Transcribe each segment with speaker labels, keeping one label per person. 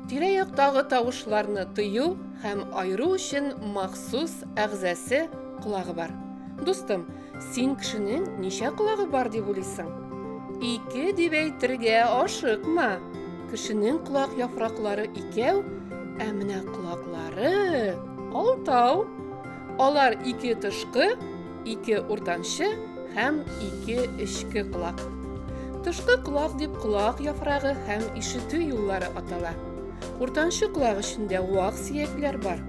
Speaker 1: тирә-яктагы тавышларны тыю һәм айыру өчен махсус әгъзасы колагы бар. Дустым, Син кешенең ничә колагы бар дип уйлыйсың? Ике дип әйтергә ашыкма. Кешенең колак яфраклары икәү, ә менә колаклары алтау. Алар ике тышкы, ике уртанчы һәм ике эчке колак. Тышкы колак дип колак яфрагы һәм ишетү юллары атала. Уртанчы колак эчендә вак сөякләр бар.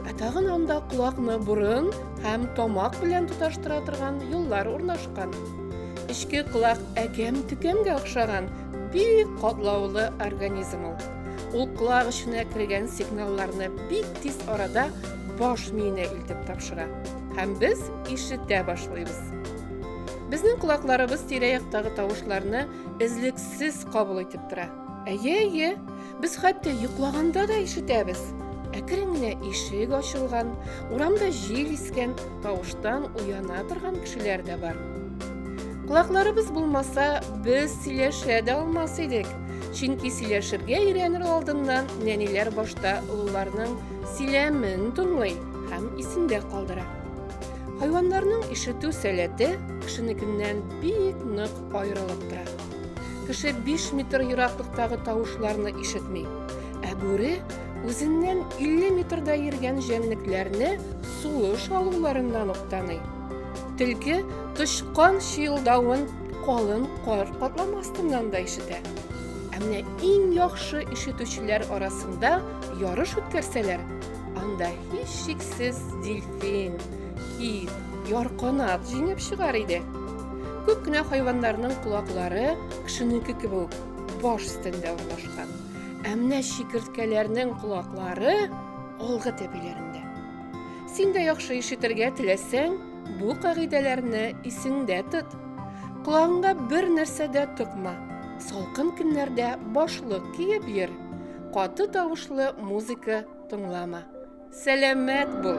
Speaker 1: Ә тагын анда колакны борын һәм тамак белән тоташтыра торган юллар урнашкан. Эчке колак әкәм-төкәмгә охшаган бик катлаулы организм ул. Ул колак эченә кергән сигналларны бик тиз арада баш миенә илтеп тапшыра һәм без ишетә башлыйбыз. Безнең колакларыбыз тирә-яктагы тавышларны эзлексез кабул итеп тора. Әйе, әйе, без хәтта йоклаганда да ишетәбез. Әкрен генә ишек ачылган, урамда җил искән, тавыштан уяна торган кешеләр дә бар. Колакларыбыз булмаса, без сөйләшә дә алмас идек. Чөнки сөйләшергә өйрәнер алдыннан нәниләр башта олыларның сөйләмен тыңлый һәм исендә калдыра. Хайваннарның ишетү сәләте кешенекеннән бик нык аерылып тора. Кеше 5 метр ераклыктагы тавышларны ишетми. Ә бүре үзеннән 50 метрда йөргән җәнлекләрне сулыш алуларыннан ук таный. Тилке тычкан чыелдавын калын кар катламы астыннан да ишетә. Ә менә иң яхшы ишетүчеләр арасында ярыш үткәрсәләр, анда һичшиксез дельфин, кит, ярканат җиңеп чыгар иде. Күп кенә хайваннарның колаклары кешенеке кебек үк баш өстендә урнашкан. Ә менә чикерткәләрнең колаклары алгы тәпиләрендә. Син дә яхшы ишетергә теләсәң, бу кагыйдәләрне исеңдә тот. Колагыңа бер нәрсә дә токма. Салкын көннәрдә башлык киеп йөр. Каты тавышлы музыка тыңлама. Сәләмәт бул!